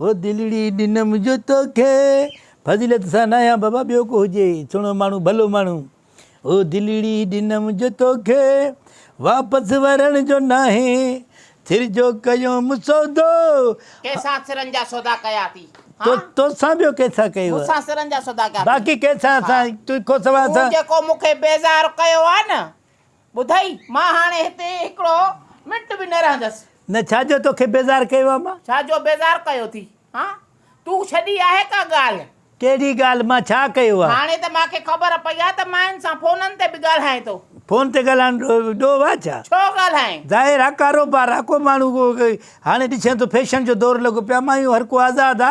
هو دلڙي ڏنم جو توکي فضيلت سان نايان بابا ٻيو ڪو هجي سهڻو ماڻهو ڀلو ماڻهو هو دلڙي ڏنم جو توکي واپس ورڻ جو ناهي سر جو ڪيوم سودو ڪيسان سرن جا سودا ڪيا اٿي تو توسان ٻيو ڪيسان ڪيو مون سان سرن جا سودا ڪيا اٿي باقي ڪيسان سان تو کان سواء سان تو جيڪو مون کي بيزار ڪيو آ نه ٻڌئي، مان هاڻي هتي هڪڙو منٽ به نه رهندس. نه، ڇا جو توکي بيزار ڪيو آ مان؟ ڇا جو بيزار ڪيو ٿي؟ ها؟ تون ڇڏي آهي ڪا ڳالهه؟ ڪهڙي ڳالهه؟ مان ڇا ڪيو آ؟ هاڻي ته مان کي خبر پئي آ ته مان هن سان فونن تي به ڳالهائين ٿو. فون تي ڳالهائڻ ڏوهه آ ڇا؟ ڇو ڳالهائين؟ ظاهر آ ڪاروبار آ، ڪو ماڻهو هاڻي ڏسين ٿو فيشن جو دور لڳو پيو آ، مايون هر ڪو آزاد آ.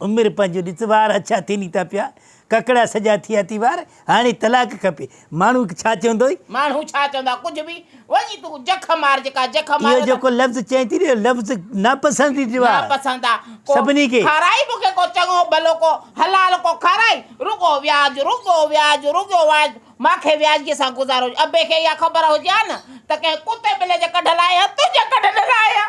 عمر پنهنجو ڏس وار اڇا ٿين ئي ٿا پيا ڪڪڙا سڄا ٿيا ٿي وار هاڻي طلاق کپي ماڻهو ڇا چوندوئي. ماڻهو ڇا چوندا ڪجهه به وڃي تون جک مار جيڪا جک ماريو اهو ته. جيڪو لفظ چئين ٿي نه اهو لفظ ناپسنديدو آهي ناپسند آ ڪو سڀني کي. کارائي مون کي ڪو چڱو ڀلو ڪو حلال ڪو کارائي رڳو وياج رڳو وياج رڳو واج مان کي وياجگي سان گذارو ابي کي اها خبر هجي ها نه ته ڪنهن ڪتي ٻلي جي ڪڍ لاهي ها تنهنجي ڪڍ نه لاهي ها.